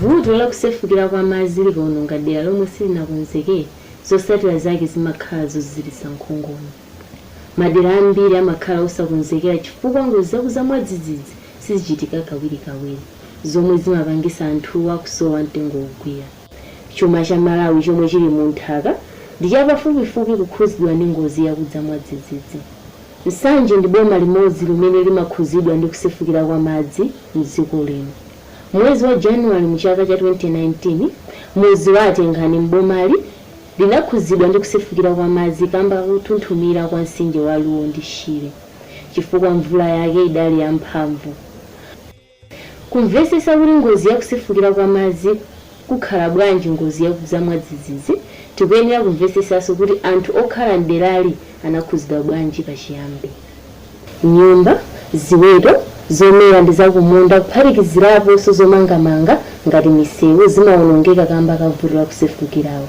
Vuto la kusefukira kwa madzi likaononga dera lomwe silinakonzekere, zotsatira zake zimakhala zoziziritsa nkhongono. Madera ambiri amakhala osakonzekera chifukwa ngozi zakudza mwadzidzidzi sizichitika kawirikawiri, zomwe zimapangitsa anthuwa kusowa mtengo wogwira. Chuma cha Malawi chomwe chili mu nthaka ndi chapafupi kwambiri kukhuzidwa ndi ngozi yakudza mwadzidzidzi. Nsanje ndi boma limodzi limene limakhuzidwa ndi kusefukira kwa madzi mdziko lino. Mmwezi wa January mu chaka cha 2019, mudzi wa Atengani m'bomali linakhuzidwa ndi kusefukira kwa madzi kamba kakuthunthumira kwa mtsinje wa Luo ndi Shire chifukwa mvula yake idali ya mphamvu. Kumvetsetsa kuti ngozi ya kusefukira kwa madzi kukhala bwanji ngozi yakudza mwadzidzidzi, tikuyenera kumvetsetsanso kuti anthu okhala mderali anakhudzidwa bwanji pachiyambi. Nyumba, ziweto, zomera ndi zakumunda kuphatikiziraponso zomangamanga ngati misewu zimaonongeka kamba ka vuto la kusefukiraku.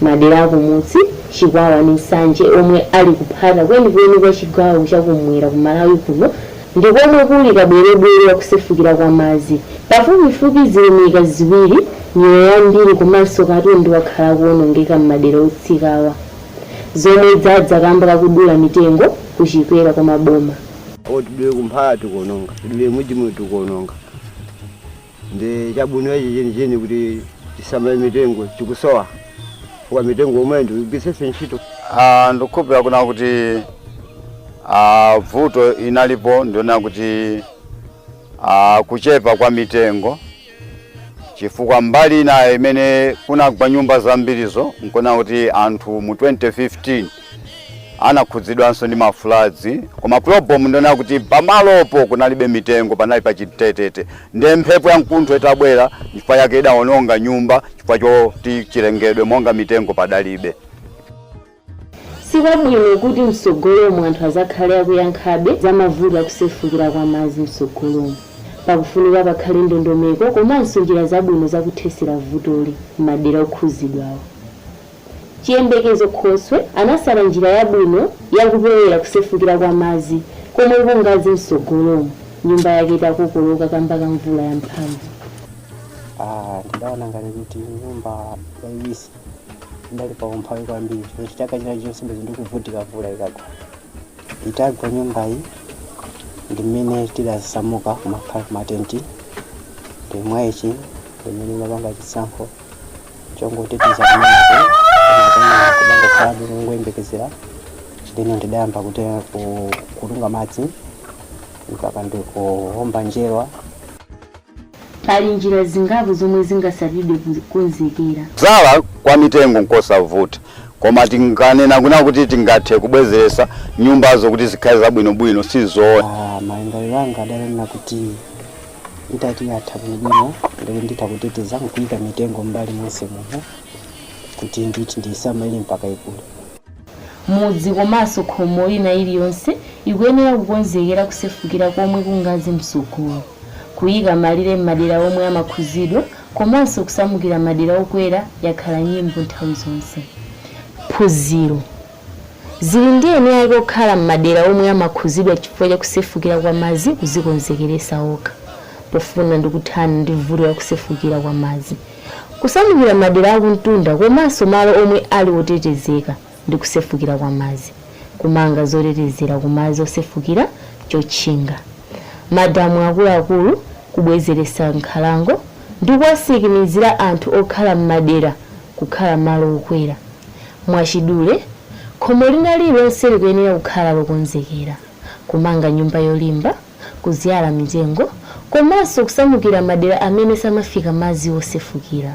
Madera akumunsi, Chikwawa ndi Nsanje omwe ali kuphata kwenikweni kwa chigawo cha kummwera ku Malawi kuno ndi komwe kuli kabwerebwere wa kusefukira kwa madzi. Pafupifupi zilumika ziwiri, miyoyo yambiri komanso katundu wakhala akuonongeka m'madera otsikawa, zomwe zadza kamba ka kudula mitengo ku chikwera kwa maboma. Tidule ku Mphala tikuononga, tidule Mujimu tikuononga. Ndi chabwino chenicheni kuti tisamale mitengo chikusowa chifukwa mitengo yomweyo ndikugwiritsenso ntchito. Ah, ndikukhulupirira kunena kuti ah, vuto inalipo ndiona kuti ah, kuchepa kwa mitengo chifukwa mbali inayo imene kunagwa nyumba zambirizo nkuona kuti anthu mu 2015 anakhudzidwanso ndi mafuladzi koma problem ndiona kuti pamalopo kunalibe mitengo panali pachitetete nde mphepo ya mkuntho itabwera chifukwa chake idaononga nyumba chifukwa choti chilengedwe monga mitengo padalibe sikwabwino kuti mtsogolomo anthu azakhale akuyankhabe za mavuto akusefukira kwa madzi mtsogolomo pakufunika pakhale ndondomeko komanso njira zabwino zakuthesera vutoli m'madera okhuzidwawo Chiyembekezo Khoswe anatsata njira yabwino ya kupewera kusefukira kwa madzi komwe kungadze mtsogolomu nyumba yake itakokoloka kamba ka mvula ya mphamvu. Aaa ndidaona ngati kuti nyumba yaiwisi ndidali pa umphawi kwambiri chifukwa chaka china chonse bwezi ndikuvutika mvula ikagwa itagwa nyumbayi ndi mmene tidasamuka kumakhala kumatenti ndiye mwaichi ndimene ndidapanga chisankho chongoteteza kumeneko kumatana kudangokhalabe kungoyembekezera ndiyeno ndidayamba kuti ku- kutunga madzi mpaka ndikuumba njerwa pali njira zingapo zomwe zingasatidwe kukonzekera. Kudzala kwa mitengo nkosavuta koma tinganena kuna kuti tingathe kubwezeretsa nyumbazo kuti zikhale zabwinobwino sizoona Ah, malingaliro anga adanena kuti itati yatha bwinobwino ndikuti nditha kuteteza nkuyika mitengo m'mbali monse muno kuti nditi ndiisamalire mpaka ikule. Mudzi komanso khomo ina iliyonse ikuyenera kukonzekera kusefukira komwe kungadze mtsogolo, kuyika malire m'madera omwe amakhuzidwa komanso kusamukira madera okwera yakhala nyimbo nthawi zonse. Phunziro. Zili ndi eni ake okhala m'madera omwe amakhuzidwa chifukwa cha kusefukira kwa madzi kuzikonzekeresa okha pofuna ndi kuthana ndi vuto la kusefukira kwa madzi, kusamukira madera akumtunda komanso malo omwe ali otetezeka ndi kusefukira kwa madzi, kumanga zotetezera ku madzi osefukira, chotchinga, madamu akuluakulu, kubwezeresa nkhalango ndi kuwatsimikizira anthu okhala m'madera kukhala malo okwera. Mwachidule, khomo lina lililonse likuyenera kukhala lokonzekera kumanga nyumba yolimba, kudzyala mitengo, komanso kusamukira madera amene samafika madzi osefukira.